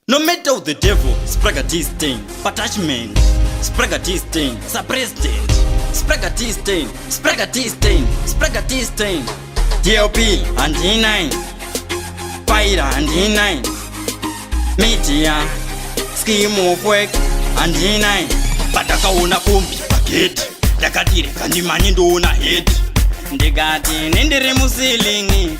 No matter of the devil, Spragga this thing, attachment, Spragga this thing, sir president, Spragga this thing, Spragga this thing, Spragga this thing, DLP and D9, Pyra and D9, Media, Scheme of Work and D9, patakaona kumbi paketi, ndakadireka ndimanye ndoona heti, ndikati nendiri musilingi,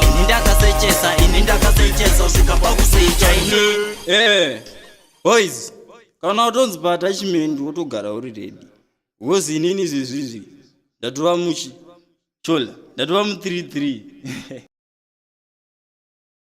ini ndakasechesa ini ndakasechesa usvika pakusecha ini eh, boys kana utonzi paatachment wotogara uri redi wozi inini zvezvizvi ndatova muchi chola ndatova mu 33